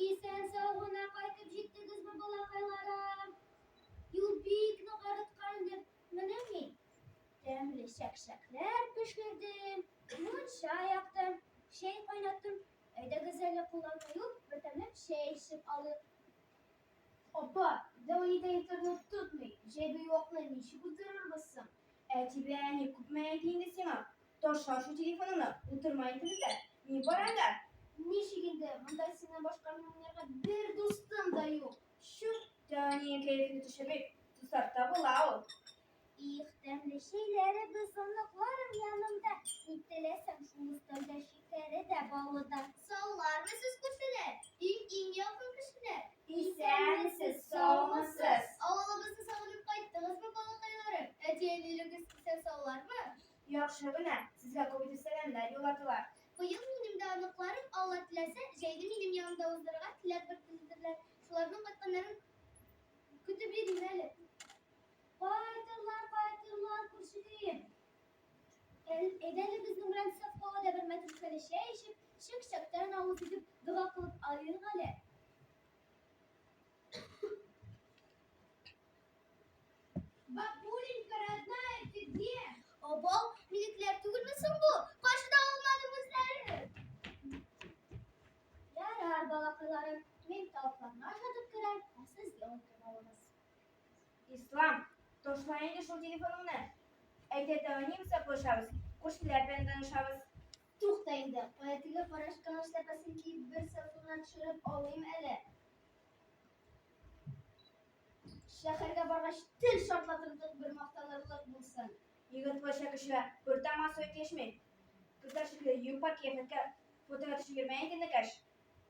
Исән-сау гына кайтып җиттегезме, балакайларым? Юл бик нык арыткан дип, менә мин тәмле чәкчәкләр пешердем, мунча яктым, чәй кайнаттым. Әйдәгез әле кулланма юк, бердәмләп чәй эчеп алыйк. Апа, Леонид интернет тотмый, җәйге юакны ничек уздырырбыз соң? Әтибе, әни күпме әйди инде сиңа? Таша шул телефоныңны, утырма инде бездә. Ни бар анда? Ничек инде, монда синнән башка минем уйнарга бер дустым да юк. Чүп, тәни кәефне төшерми. Тусарта була ул. Их, тәмле чәйләре бозынлыкларым янымда. Ни теләсәң, шул өстәлдә шикәре дә, балы да. Саулармы сез күршеләр, иң-иң якын кешеләр? Исәнмесез, саумысыз. Авылыбызны сагынып кайттыңызмы, балакайларым? Әти-әнилегез исән саулармы? Яхшы гына. Сезгә күбидер сәламнәр юлладылар. Быел минем дә оныкларым, Алла теләсә, җәйне минем янымда уздырырга теләк белдерделәр. Шуларның кайтканнарын көтеп йөрим әле. Кайтырлар, кайтырлар, күршеләр. Әйдә әле безнең белән Сафкова да бер мәтрүшкәле чәй эчеп, чык-чактан авыз итеп, дога кылып алыйк әле. Бабуленька, родная, ты где? Обал, минекләр түгелме соң бу? Кайчыда алмадым үзләрен? Ярар, балакайларым, мин тавыкларны ашатып керәм, ә сез ял итеп алыгыз. Ислам, ташла инде шул телефоныңны. Әйтә тәүәни усаклашабыз, күршеләр белән танышабыз. Тукта инде, кая теге карашкан эшләпәсен киеп бер селфина төшереп алыйм әле. Шәһәргә баргач, тел шартлатырлык бер мактанырлык булсын. Егет кача кешегә бер таман сой кешми. Кызлар шикелле юпа кияфәткә фотога төшермә инде, Нәкәш.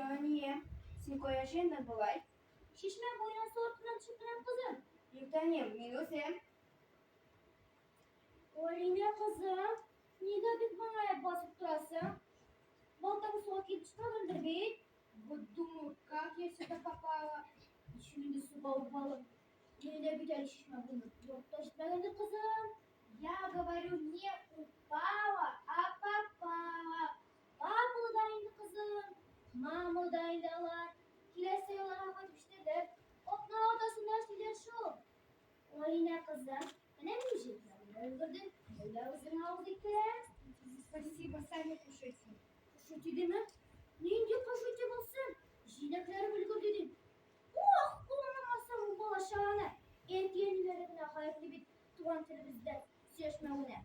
Фидания, син кая җыендың болай? Чишмә буена су артыннан төшеп менәм, кызым. Юктанием, мин үзем. Алинә кызым, нигә бик моңаеп басып торасың? Балтаң суга килеп төшмәгәндер бит? Вот думаю, как я сюда попала. Еще не суга упала. Еле бит әле чишмә буена. Юк, төшмәгәндер кызым. Я говорю, не упала, а попала. Мамыл да инде кызым. Мамыл да инде алар. Киләсе елларга кайтып җитәләр. Атна атасында сөйләр шул. Алинә кызым, менә мин җирләрне өлгердем. Менә үзең авыз итә. Спасибо, сами кушайте. Кушайте деме? Нинди кушайте булсын? Җиләкләрем өлгерде дим. Ох, кулланмасам бу бала чаганы. Әти-әниләре генә гаепле бит туган телебездә сөйләшмәвенә.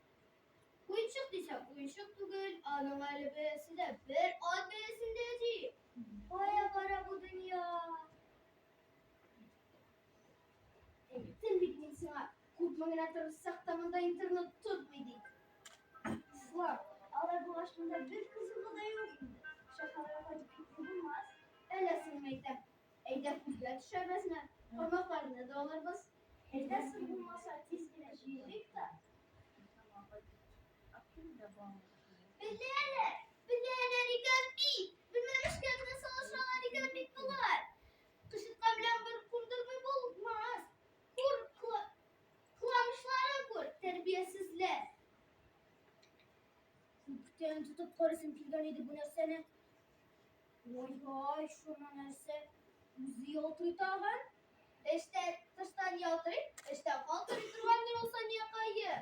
Уенчык дисәм, уенчык түгел, аның әле бәясе дә бер ат бәясендә ди. Кая бара бу дөнья? Әйттем бит мин сиңа, күпме генә тырышсак та монда интернет тотмый ди. Слав, алай булгач монда бер кызыгы да юк инде. Шәһәргә кайтып китсә булмас. Әллә соңмы әйтәм, Әйдә күзгә төшәбезме? Бармакларны да алырбыз. Әйдә су булмаса, тиз генә җыелыйк та. Белә әле, белә әле рикән бит. Белмәмешкә генә салышалар икән бит болар. Кышытка белән бер кундырмый булмас. Күр, кыламышларын күр, тәрбиясезләр. Күптән тотып карыйсым килгән иде бу нәрсәне. Ой-ой, шуның нәрсә? Үзе ялтырый тагын? Эштә тыштан ялтырый, эштә калтырый торган ни ул Саниякае?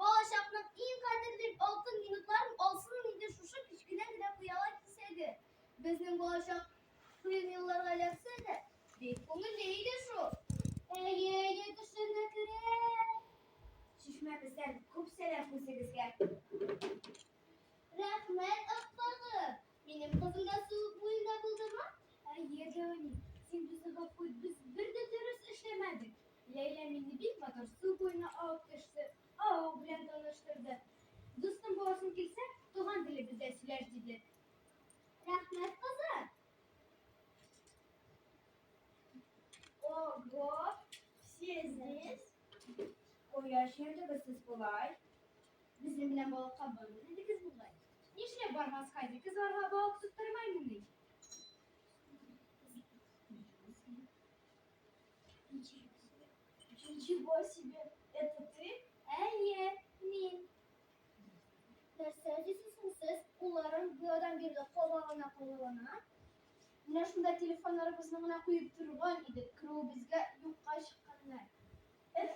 Балачакның иң кадерле алтын минутларын алсын инде шушы кечкенә генә пыяла кисәге. Безнең балачак кыен елларга эләксә дә, бик күңелле иде шул. Әйе, әйе, төшемә керә. Чишмәбездән күп сәлам үзегезгә. Рәхмәт, Акбагы. Минем кызым да сулык буенда булдымы? Әйе, Гаони, син безне гафу ит, без бер дә дөрес эшләмәдек. Ләйлә мине бик матур су буена алып төште, авыл белән таныштырды. Дустым буласың килсә, туган телебездә сөйләш, диде. Рәхмәт, кызы. Ого, сез здесь? Кояш йөрдегез сез болай. Безнең белән балыкка бармын инде кез булгай. Нишләп бармаска ди? Кыз барга балык тоттырмаймын ди. Ничего себе, это ты? Әйе, мин. Нәрсә дисез сез? Кулларым биодан бирле кабагына куллана. Менә шунда телефоннарыбызны гына куеп торган идек. Керүебезгә юкка чыкканнар. Эф,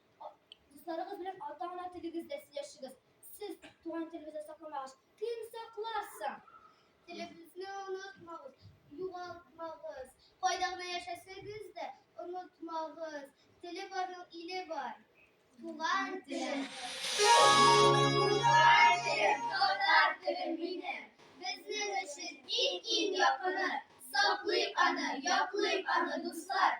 Дусларыгыз белән ата-ана телегездә сөйләшегез. Сез туган телебезне сакламагач, кем саклар соң? Телебезне онытмагыз, югалтмагыз. Кайда гына яшәсәгез дә, онытмагыз. Теле барның иле бар. Туган теле. Туган теле, татар теле мине. Безнең өчен иң-иң якыны. Саклыйк аны, яклыйк аны, дуслар.